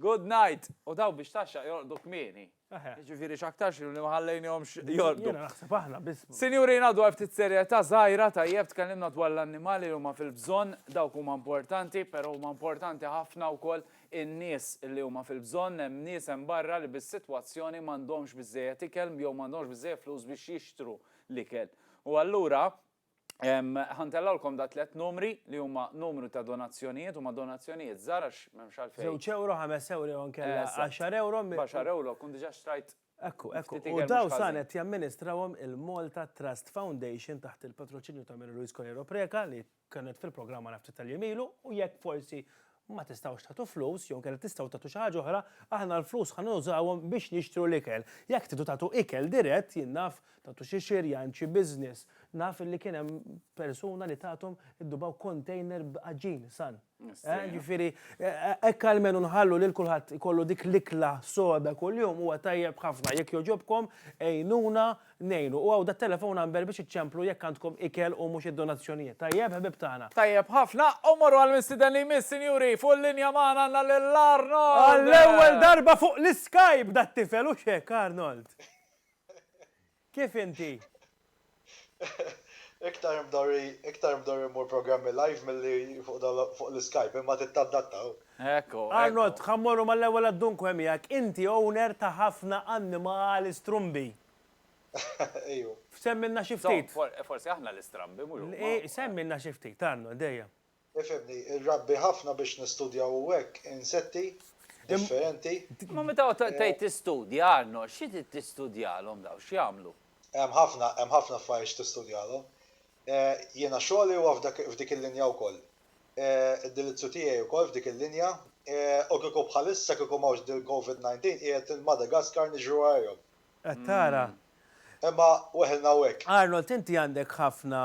Good night! U dawn biex tgħaxxaq jorqdu kmieni. Jiġifieri x'aktarx li ma ħallejnihomx jorqdu. Jiena naħseb aħna biss. Sinjurina dwar ftit serjetà żgħira, tajjeb tkellimna dwar l-annimali li huma fil-bżonn, dawk huma importanti, però huma importanti ħafna wkoll in-nies li huma fil-bżonn, hemm nies hemm barra li bis-sitwazzjoni m'għandhomx biżżejjed ikel jew m'għandhomx biżżejjed flus biex jixtru l-ikel. U allura, Ħa ntellgħulkom da' tliet numri li huma numru ta' donazzjonijiet, huma donazzjonijiet żgħar għax m'hemmx għalfejn. Żewġ ewro, ħames ewro jew inkella għaxar ewro. B'għaxar ewro tkun diġà xtrajt. Ekku, ekku. U dawn sa qed jamministrawhom il-Malta Trust Foundation taħt il-patroċinju ta' Mary Louise Coleiro Preca li kienet fil-programm għandna ftit tal-jiem ilu u jekk forsi Ma tistgħux tagħtu flus, jew inkella tistgħu tagħtu xi ħaġa oħra, aħna l-flus ħa nużawhom biex nixtru l-ikel. Jekk tridu tagħtu ikel dirett, jien naf, tagħtu xi xirjan, xi business, naf li kien hemm persuna li tathom iddubaw container b'għaġin san. Jiġifieri hekk almenu nħallu lil kulħadd ikollu dik l-ikla soda kuljum huwa tajjeb ħafna. Jekk jogħġobkom għinuna Ngħinu. U hawn dat-telephone number biex iċċemplu jekk għandkom ikel u mhux id-donazzjonijiet. Tajjeb, ħbieb tagħna? Tajjeb ħafna. U mmorru għall-mistieden li jmiss, sinjuri. Fuq il-linja magħna għandna lil Arnold! Għall-ewwel darba fuq l-iskajp dat-tifel, hux hekk, Arnold? Kif inti? Iktar mdorri, iktar mdorri mmur programmi live milli fuq dawn l, fuq l-iskajp, imma trid tadatta, hu. Ekku, ekku. Arnold, ħa mmorru mal-ewwel għad-dunque miegħek. Inti owner ta' ħafna annimali strumbi. Ejju. Semmilna xi ftit. Insomma, forsi aħna l-istrambi mhux huma. Le, semmilna xi ftit, Arnold, ejja. Ifhimni, irrabbi ħafna biex nistudjaw u hekk insetti differenti. Imma meta tgħid tistudja, Arnold, xi trid tistudjalhom dawn, x'jagħmlu? Hemm ħafna, hemm ħafna affarijiet x'tistudjalhom. Jiena xogħli huwa f'dik il-linja wkoll. id-dilizzju tiegħi wkoll f'dik il-linja. U kieku bħalissa kieku m'hawnx dil-Covid 19 qiegħed lil Madagascar niġru għajrhom. Qed tara? Imma weħilna hawnhekk. Arnold inti għandek ħafna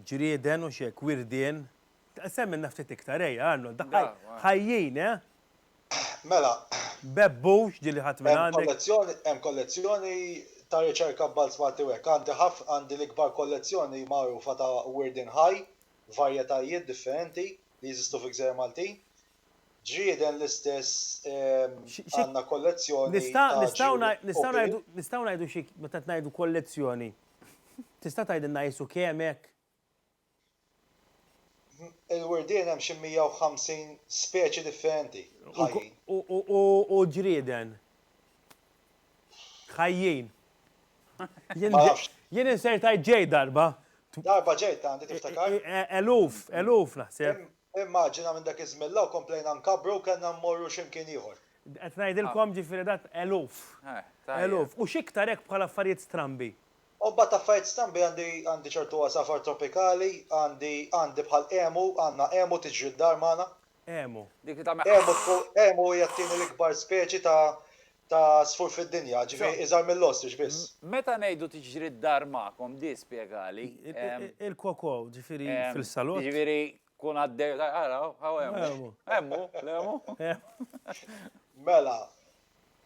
ġrieden hux hekk, wirdien? Semmilna ftit iktar ejja Arnold, daħħal ħajjin eh! Mela. Bebbux din li ħadt minn għandek. Hemm kollezzjoni ta' riċerka b'Balz Malti u hekk. Għandi l-ikbar kollezzjoni magħrufa ta' wirdien ħaj varjetajiet differenti li jeżistu fil-Gżejjer Maltin. Ġrieden l-istess għandna kollezzjoni ta' ġrieden opil. Nistgħu ngħidu xi, meta ngħidu kollezzjoni, tista' tgħidilna qisu kemm hekk? Il-wirdien hemm xi 150 speċi differenti ħajjin. U ġrieden? Ħajjin. Jien insertajt ġej darba. Darba ġej ta' għandi tiftakar. E- e- eluf, eluf naħseb. Immaġina minn dak iż-żmien law komplejna nkabbru kellna mmorru x'imkien ieħor. Qed ngħidilkom ġifieri dat eluf. Eluf. U x'iktar hekk bħal affarijiet strambi. U mbagħad affarijiet strambi għandi għandi ċertu għasafar tropikali, għandi għandi bħal emu, għandna emu tiġri d-dar magħna. Emu. Emu hija t-tieni l-ikbar speċi ta' ta' għasfur fid-dinja, ġifieri iżgħar mill-ostrich biss. Meta ngħidu tiġri d-dar magħkom, di spjegali. Il-koko, ġifieri fil-salott. Jiġifieri tkun għaddej u tgħid, ara, hawn emu. Emu, l-emu. Mela,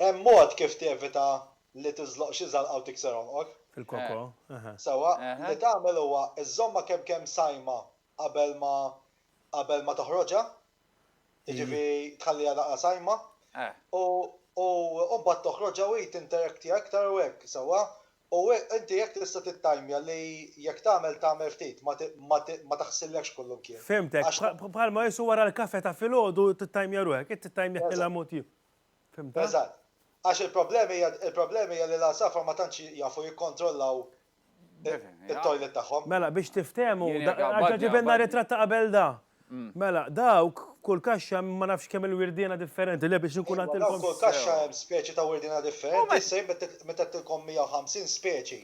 hemm mod kif tevita li tiżloq xi żalqa u tikser għonqok. Fil-koko, eħe. Sewwa, li tagħmel huwa żżommha kemm kemm sajma qabel ma qabel ma toħroġha, jiġifieri tħalliha daqqa sajma. U u mbagħad toħroġha u hi tinterekti aktar u hekk, sewwa? U inti hekk tista' tittajmja li jekk tagħmel tagħmel ftit, ma ma taħsillekx kullumkien. Fhimtek, bħalma qisu wara l-kafe ta' filgħodu tittajmja ruħek, hi tittajmjak lilha mod ieħor. Fhimtha? Eżatt. Għax il-problema hija il-problema hija li l-għasafar ma tantx jafu jikkontrollaw it-toilet tagħhom. Mela biex tiftehmu, ġa ġibilna ritratt ta' qabel da. Mela, dawk f'kull kaxxa hemm ma nafx kemm il-wirdiena differenti, le biex inkun għattilkom. Dawk f'kull kaxxa hemm speċi ta' wirdiena differenti, issa jien meta għedtilkom 150 speċi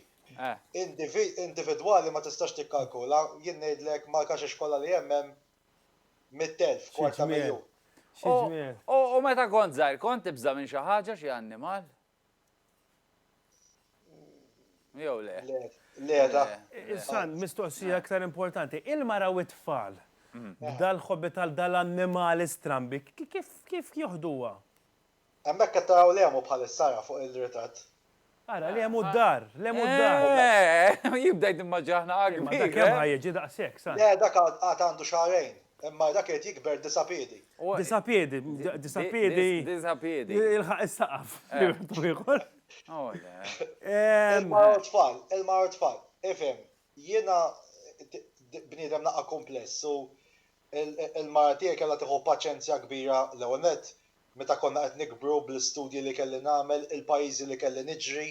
individwali ma tistax tikkalkula, jien ngħidlek mal-kaxex kollha li hemm hemm 100,000, kwart ta' miljun. U meta kont żgħir kont tibża' minn xi ħaġa, xi annimal? Jew le? Le, le, da. Issa, mistoqsija aktar importanti. Il-mara u t-tfal, dal-ħobbi tal-annimali strambi, kif joħduha? Hemmhekk qed taraw l-għemu bħalissa ara fuq il-ritratt. Ara, l-għemu d-dar, l-għemu d-dar. Eeh, jibda jidimmaġinaħ naqra kbir. Dak kemm ħa jiġi daqshekk, sa? Le, dak għad għandu xahrejn. Imma dak irid jikber disa' piedi. Disa' piedi, disa' piedi. Disa' piedi. Jilħaq is-saqaf. Ilma u tfal, ilma u tfal. Ifhem, jiena bniedem naqra kumpless u l-mara tiegħi kellha tieħu paċenzja kbira l-ewwel nett meta konna qed nikbru bl-istudji li kelli nagħmel, il-pajjiżi li kelli niġri,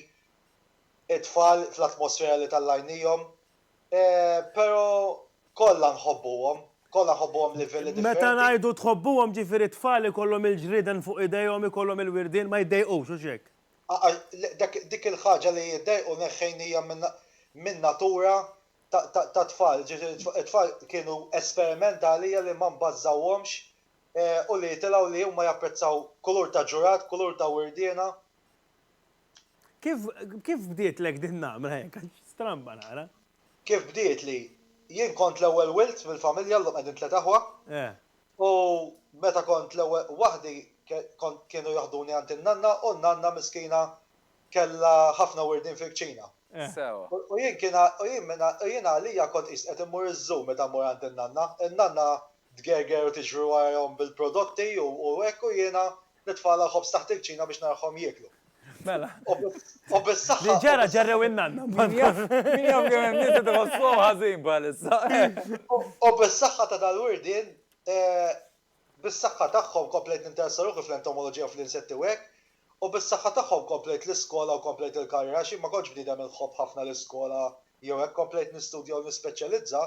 it-tfal fl-atmosfera li tellgħajnihom, Pero kollha nħobbuhom, kollha nħobbuhom livelli differenti. Meta ngħidu tħobbuhom ġifieri t-tfal ikollhom il-ġrieden fuq idejhom ikollhom il-wirdien ma jiddejqux hux hekk? Dik il-ħaġa li jiddejqu neħħejn hija minn natura tat-tfal, it-tfal kienu esperiment għalija li ma nbażżawhomx u li jitilgħu li huma japprezzaw kulur ta' ġurad, kulur ta' wirdiena. Kif, kif bdietlek din namra hekk għax stramba nara? Kif bdietli? Jien kont l-ewwel wild mill-familja llum qegħdin tliet aħwa. Eh. U meta kont l-ewwel waħdi kont kienu jaħduni għand in-nanna u n-nanna miskina kellha ħafna wirdien fil-kċina. Eh. Sewwa. U jien kien u jien minn u jien għalija kont qist qed immur iż-zoo meta mmur għand in-nanna. In-nanna tgerger u tiġri warajhom bil-prodotti u hekk u jiena nitfagħalha l-ħobż taħt il-kċina biex naraħhom jieklu. Mela. U bis-saħħa. Li ġara ġerrew in-nanna. Min jaf min jaf kemm hemm nies qed iħossuhom ħażin bħalissa. U bis-saħħa ta' dal-wirdien, bis-saħħa tagħhom komplejt ninteressa ruħi fl-entomoloġija u fl-insetti u hekk, u bis-saħħa tagħhom komplejt l-iskola u komplejt il-karriera għax jien ma kontx bniedem inħobb ħafna l-iskola jew hekk, komplejt nistudja u nispeċjalizza,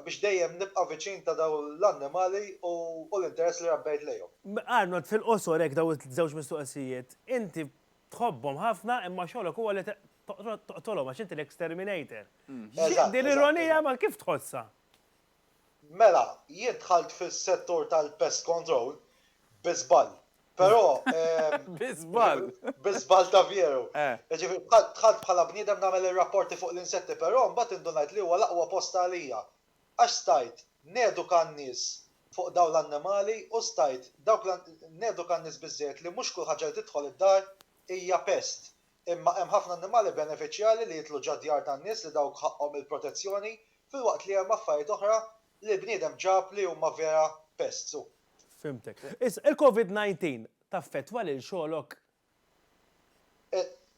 biex dejjem nibqa' viċin ta' dawn l-annimali u l-interess li rabbejt lejhom. Arnold, fil-qosor hekk dawn iż-żewġ mistoqsijiet. Inti tħobbhom ħafna imma xogħlok huwa li toqtolhom għax inti l-exterminator. X'inhi din l-ironija imma kif tħossha? Mela, jien dħalt fis-settur tal-pest control bi żball. Però. Bi żball. Bi żball ta' veru. Jiġifieri dħalt bħala bniedem nagħmel ir-rapporti fuq l-insetti però mbagħad indunajt li huwa l-aqwa post għalija għax stajt neduka n-nies fuq dawn l-annimali u stajt dawk neduka n-nies biżżejjed li mhux kull ħaġa li tidħol id-dar hija pest imma hemm ħafna annimali benefiċjali li jidħlu ġad-djar tan-nies li dawk ħaqqhom il-protezzjoni filwaqt li hemm affarijiet oħra li l-bniedem ġab li huma vera pests u. Fhimtek. Issa, il-Covid 19 taffettwa lil xogħlok?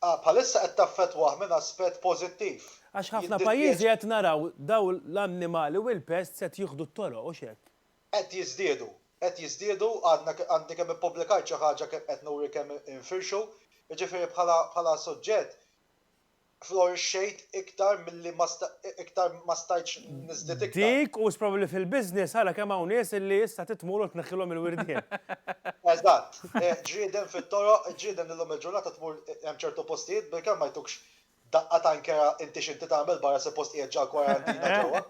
Ah, bħalissa qed taffettwah minn aspett pożittiv. Għax ħafna pajjiżi qed naraw dawn l-annimali u l-pests qed jieħdu t-toroq, hux hekk? Qed jiżdiedu, qed jiżdiedu, għadna, għandi kemm ippubblikajt xi ħaġa kemm qed nuri kemm infirxu, jiġifieri bħala suġġett florixxejt iktar milli ma iktar ma stajtx niżdied iktar. Dik u probabbli fil-business ara kemm hawn nies illi issa titmur u tneħħilhom il-wirdien. Eżatt. Ġrieden fit-toroq, ġrieden li llum il-ġurnata tmur hemm ċertu postijiet bilkemm ma jtukx daqqa ta' nkera inti x'inti tagħmel barra suppost qiegħed ġall-kwarantina ġewwa.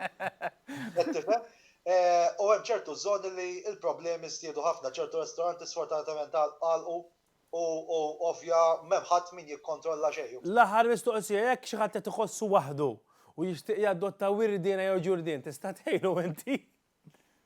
Qed tifhem? U hemm ċertu żoni li l-problemi żdiedu ħafna, ċertu restoranti sfortunatament għalqu. u ovvja m'hemm ħadd min jikkontrolla xejn. L-aħħar mistoqsija, jekk xi ħadd qed iħossu waħdu u jixtieq jadotta wirdiena jew ġurdien, tista' tgħinu inti?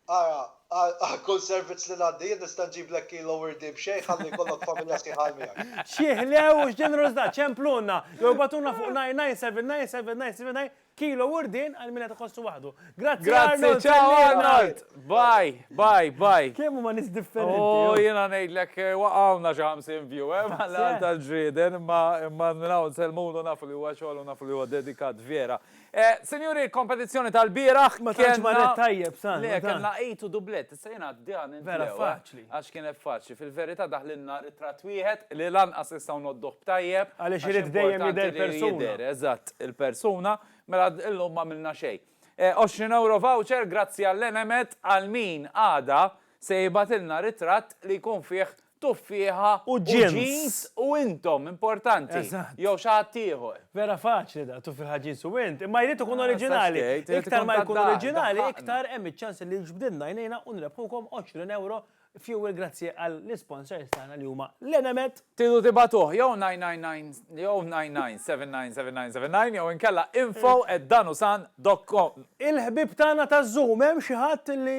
Ara, għal kull servizz li ngħaddi jien nista' nġiblek kilo wirdien b'xejn ħalli jkollok familja sħiħa għal miegħek. X'ħlew u x'ġenerożità! Ċemplunna, jew ibagħtulna fuq 9979779 Kilo wurdien għal min qed iħossu waħdu. Grazzi Arnold! Grazzi, ciao Arnold! Bye, bye, bye. Kemm huma nies differenti. Oh, jiena ngħidlek waqgħuna xi 50 view, eh, mal-għal tal-ġrieden, imma imma minn hawn nsellmulu nafu li huwa xogħol u nafu li huwa dedikat vera. Eh, sinjuri, l-kompetizzjoni tal-bieraħ. Ma tantx marret tajjeb, sa. Le, kellna 8 u dublett, issa jiena għaddi għan. Vera, faċ. faċli, għax kienet faċli. Fil-verità daħlilna ritratt wieħed li lanqas nistgħu ngħodduh b'tajjeb. Għaliex irid dejjem jidher persuna. Eżatt, il-persuna, mela illum m'għamilna xejn. 20 ewro voucher grazzi għall-Enemed għal min għada se jibgħatilna ritratt li jkun fih tuffieħa u ġins u intom importanti jew xi ħadd ieħor. Vera faċli da, tuffi ħaġin su int, imma jrid ikun oriġinali. Iktar ma jkun oriġinali, iktar hemm iċ-ċans li jġbdilna jnejna u nrebħukom 20 ewro fuel grazzi għall-isponsors tagħna li huma l-Enemed. Tridu tibagħtuh jew 999 jew 997999 jew inkella info@danusan. Dotcom, Il-ħbieb tagħna taż-Zoom, hemm xi ħadd li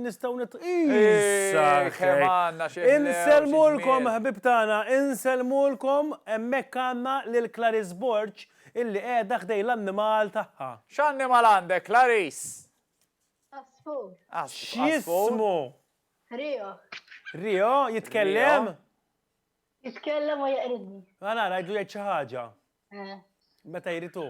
nistgħu nit. Issa kemm għandna xi ħlewġ iż-żmien! Insellmulkom ħbieb tagħna, insellmulkom, hemmhekk għandna lil Clarice Borg illi qiegħda ħdejn l-annimal tagħha. X'annimal għandek Clarice? Għasfur. X'jismu? Rio. Rio, jitkellem? Jitkellem u jeqridni. Mela nara, għidlu jgħid xi ħaġa. Meta jrid hu.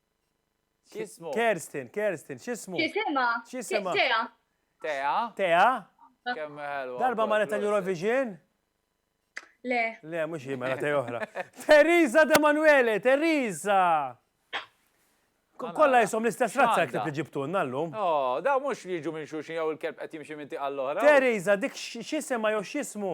X'ismu? Kerstin, Kerstin, x'ismu? X'isima? X'isima? Tea. Tea? Tea? Kemm ħelwa. Darba ma reta l-Eurovision? Le. Le, mhux hi mela tej oħra. Teresa de Manuele, Teresa! Kolla jisom l-istess razza jek li ġibtu nallum. Oh, da mux li ġu minn xuxin jew il-kelb qed jimxi minn tiqa l-oħra. Teresa, dik xisema jew xismu?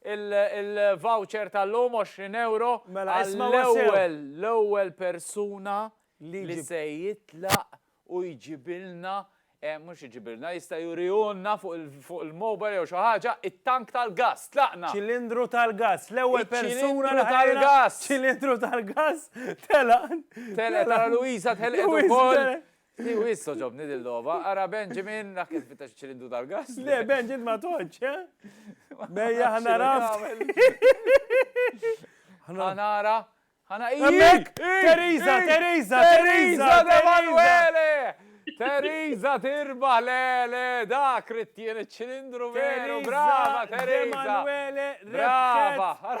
il-voucher tal-lum 20 ewro għall-ewwel l-ewwel persuna li se jitlaq u jġibilna, mhux iġibilna, jista' jurihulna fuq il-mobile jew xi ħaġa, it-tank tal-gass. Tlaqna! Ċilindru tal-gass. L-ewwel persuna li ħajjilha ċilindru tal-gass telaq. Telqet, ara Louisa telqet ukoll. Hi wis toġobni din logħba, ara Benjamin dak kif fittex iċ-ċilindru tal-gass. Le Benjamin ma toġġ, eh? Mejja ħana raf. Ħanara, ħana Hemmhekk! Teresa, Teresa, Teresa, Emanuele! Teresa tirbaħ, le, le, dak rittien iċ-ċilindru veru, brava Teresa! Emanuele, brava!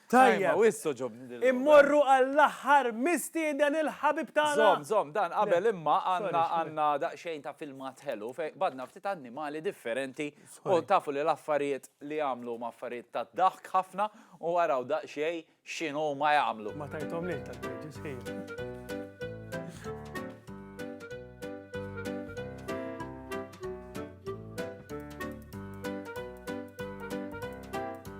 Tajjeb. Wis toġobni dil-logħba. Immorru għall-aħħar mistieden il-ħabib tagħna. Żomm, żomm, dan qabel imma għandna għandna daqsxejn ta' filmat ħelu fejn qbadna ftit annimali differenti u tafu li l-affarijiet li jagħmlu huma affarijiet tad-daħk ħafna u araw daqsxejn x'inhuma jagħmlu. Ma tajthomlix dal-bridge, sħiħ.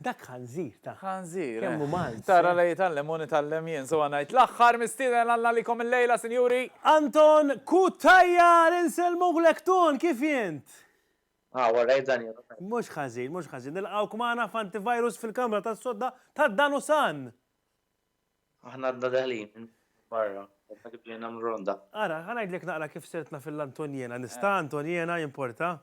Dak ħanżir ta. Ħanżir. Kemm hu Malti. Tara li jitgħallem u nitgħallem jien, sewa ngħid. L-aħħar mistieden Alla għalikom illejla, sinjuri. Anton Cutajar, insellmuklek Ton, kif int? How are you Daniel? Mhux ħażin, mhux ħażin. Nilqgħuk magħna f'Antivirus fil-Kamra tas-Sodda tad-Danusan! Aħna għadna daħlin minn barra, għadna kif ġejna minn ronda. Ara, ħa ngħidlek naqra kif sirtna fil-Antoniena. Nista', Antoniena, jimporta?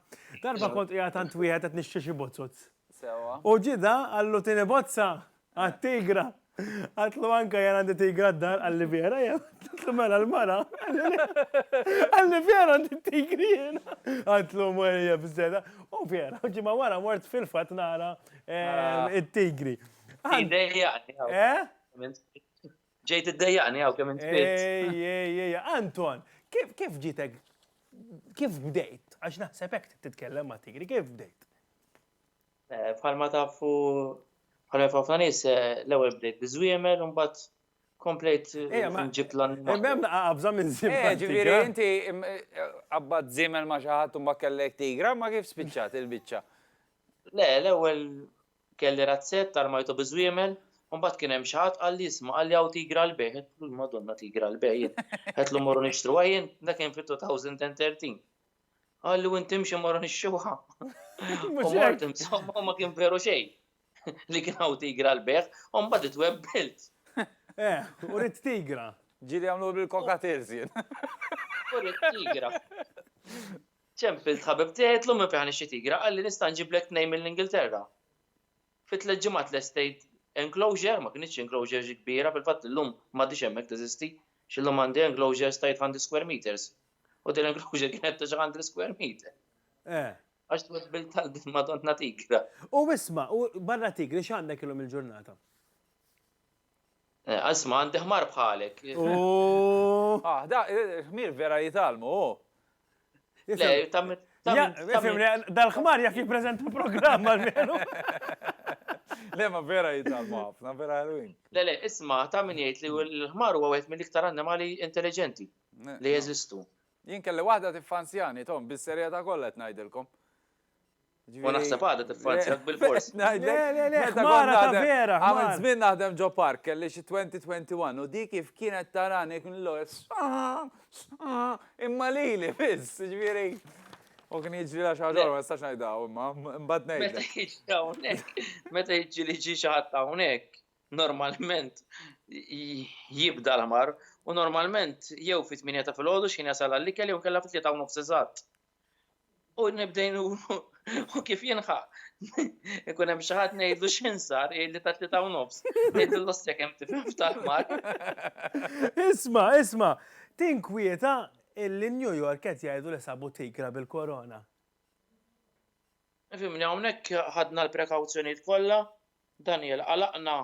Darba kont qiegħed għand wieħed qed nixtri xi bozzuz. Sewwa. U ġie da, qallu tieni bozza! Għat-tigra! Għadtlu anka jien għandi tigra d-dar, qalli vera jien. Għadtlu mela l-mara. Qalli vera għandi tigri jien. Għadtlu mwerja bżeda. U vera, ġimgħa wara mort fil-fatt nara eh, it-tigri. Għaddejjaqni għaw. Eh? Ġejt id-dejjaqni għaw kemm inspirt. Ejjejjej, Anton, kif ġitek, kif bdejt? Għax naħseb hekk titkellem ma' tigri, kif bdejt? Eh, bħalma tafu, bħalma tafu nies eh, l-ewwel bdejt biżwiemel u mbagħad komplejt eh, ġibt l-annimal. Imbem naqabża minn zimel. Ġifieri inti qabbat zimel ma xi ħadd u ma kellek tigra, ma kif spiċċat il-biċċa? Le, l-ewwel Kelli razzett, armajtu bi żwiemel, u mbagħad kien hemm xi ħadd qalli isma' qalli hawn tigra għall-bejgħ. Għedtlu l-Madonna tigra għall-bejgħ jien. Għedtlu morru nixtruha jien, dak kien fit-2013. Qalli u inti imxi morru nixtruha. U mort insomma u ma kien veru xejn li kien hawn tigra għall-bejgħ, u mbagħad itwebbilt. Eh, u ridt tigra. Ġieli għamluha bil-cockatiels jien. U ridt tigra. Ċempilt ħabib tiegħi għidtlu minn fejn ħa nixtri tigra, qalli nista' nġiblek tnejn mill-Ingilterra. Fi tliet ġimgħat lestejt enclosure, ma kinitx enclosure xi kbira, fil-fatt illum m'għadhiex hemmhekk teżisti, x'illum għandi enclosures ta' 800 square meters. U din l-enclosure kienet ta' xi hundred square meter. Eh. Għax twebbilt għal din madonna tigra. U isma', u barra tigri x'għandek illum il-ġurnata? Eh, isma' għandi ħmar bħalek. Ooh! Ah, da, il-ħmir vera jitgħallmu, hu. Dal-ħmar jaf jippreżenta programm għal-menu. Le, ma vera jitalmu ħafna, vera ħelwin. Le, le, isma, ta' min jgħid li l-ħmar huwa wieħed mill-iktar annimali intelligenti li jeżistu. Jien kelli waħda tiffanzjani, tom, bis-serjetà kollha qed ngħidilkom. U naħseb għada tiffanzjak bilfors. Le, le, le, ħmara ta' vera. Għamil żmien naħdem ġo park, kelli xi 20-21 u dik kif kienet tarani kien l-ewwel imma lili biss, ġifieri. U kien jiġri la xi ħaġa ma nistax ngħidha imma mbagħad ngħid. Meta jiġri hawnhekk, meta jiġri li ġi xi ħadd hawnhekk, normalment jibda l-ħmar u normalment jew fit-8 ta' filgħodu x'ħin jasal għall-ikel jew inkella fit-3 u nofs eżatt. u nibdejn u kif jinħa. Ikun hemm xi ħadd ngħidlu x'insar li ta' tlieta u nofs. Ngħidlu l-ossja kemm tifhem f'tal-mar. Isma', isma', tinkwieta illi New York qed jgħidu li sabu tigra bil-korona. Fimni hawnhekk ħadna l-prekawzjonijiet kollha, Daniel, għalaqna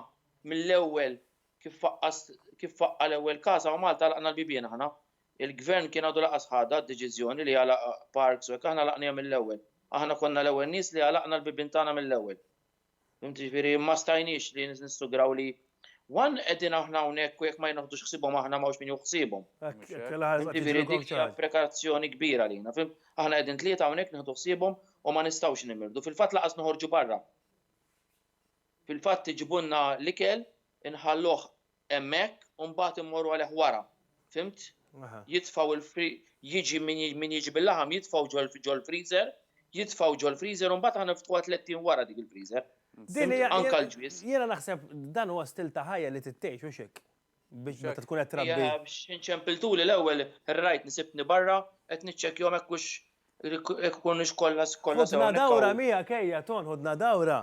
mill-ewwel kif faqqas kif faqqa l-ewwel każ hawn Malta għalaqna l-bibien aħna. Il-Gvern kien għadu lanqas ħadha d-deċiżjoni li jagħlaq parks u hekk, aħna għlaqnihom mill-ewwel. Aħna konna l-ewwel nies li għalaqna l-bibien tagħna mill-ewwel. Fhimt? Jiġifieri ma stajniex li nissugraw li one qegħdin aħna hawnhekk u jekk ma jnoħdux ħsiebhom aħna m'hawnx min jieħu ħsiebhom. Fhimt? Jiġifieri dik hija prekazzjoni kbira għalina. Fhimt? Aħna qegħdin tlieta hawnhekk nieħdu ħsiebhom u ma nistgħux nimirdu. Fil-fatt lanqas noħorġu barra. Fil-fatt iġibulna l-ikel, inħalluh hemmhekk u mbagħad immorru għalih wara. Fhimt? Jitfgħu l jiġi min jiġi bil-laħam jitfgħu ġol-freezer, jitfgħu ġol-freezer u mbagħad aħna niftħuha tliet ijiem wara dik il-freezer. Anke l-ġwież. Jiena naħseb dan huwa stil ta' ħajja li trid tgħix mhux hekk? Biex meta tkun qed trabbi. Inċempiltuli l-ewwel rajt nisibni barra qed niċċekkjahom hekk hux jekk ikunux kollha sew. Ħudna dawra miegħek ejja Ton, ħudna dawra.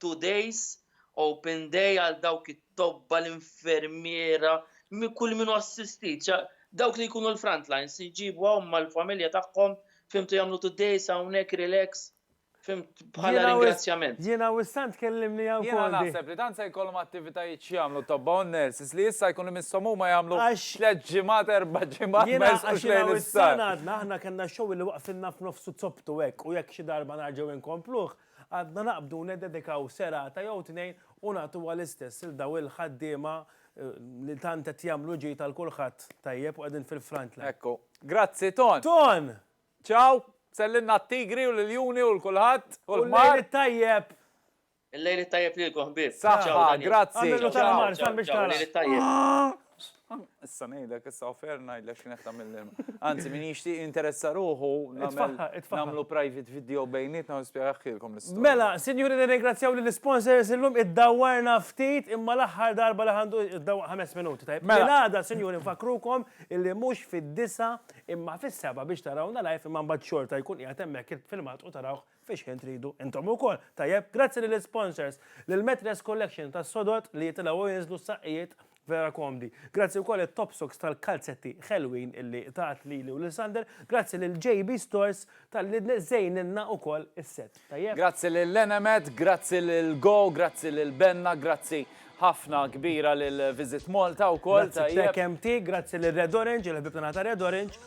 Two Days, Open Day għal dawk it-tobba, l-infermiera, kull min hu assistit, dawk li jkunu l-front lines, iġibu hawn mal-familja tagħhom, fhimtu, jagħmlu two days hawnhekk relax, fhimt, bħala ringrazzjament. Jiena u s-Sant tkellimni hawn fuqhom. Jiena naħseb li tant se jkollhom attivitajiet x'jagħmlu t-tobba u n-nurses li issa jkun imisshom huma jagħmlu tliet ġimgħat, erba' ġimgħat ma jersqux lejn l-isptar. Jiena u s-Sant għadna, aħna kellna xogħol li waqfilna f'nofsu zoptu hekk u jekk xi darba nerġgħu nkompluh, Għadna naqbdu niddedikaw serata jew tnejn u nagħtuha l-istess lil dawn il-ħaddiema li tant qed jagħmlu ġid għal kulħadd tajjeb u qegħdin fil-front line. Ekku. Grazzi Ton! Ton! Ciao! Sellilna t-tigri u l-iljuni u l-kulħadd u l-ħmar. U l-lejl it-tajjeb! Il-lejl it-tajjeb lilkom ħbieb. Saħħa, grazzi. Ciao, ciao, ciao, u l-lejl it-tajjeb. Issa ngħidlek, issa offer ngħidlek x'kien qed tagħmel l-ilma. Anzi, min jixtieq jinteressa ruħu nagħmlu private video bejnietna u nispjegaħilkom l-istorja. Mela, sinjuri nirringrazzjaw lill-isponsors illum iddawwarna ftit imma l-aħħar darba li ħandu dawwaq ħames minuti, tajjeb. Mela. Filgħada, sinjuri, nfakkrukom illi mhux fid-disgħa imma fis-sebgħa biex tarawna live imma mbagħad xorta jkun qiegħed hemmhekk il-filmat u tarawh Fix-ħin tridu intom ukoll. Tajjeb, grazzi lill-isponsors, lil Metres Collection tas-sodod li jitilgħu u jinżlu saqqijiet vera komdi. Grazzi wkoll lit-Topsux tal-kalzetti ħelwin illi tat lili u lil Sander. Grazzi lil JB Stores talli żejnilna wkoll is-set. Tajjeb? Grazzi lil Enemed, grazzi lil Go, grazzi lil Benna, grazzi ħafna kbira lil Visit Malta wkoll. Grazzi Trekk MT, grazzi lil Red Orange, il-ħbieb tagħna ta' Red Orange.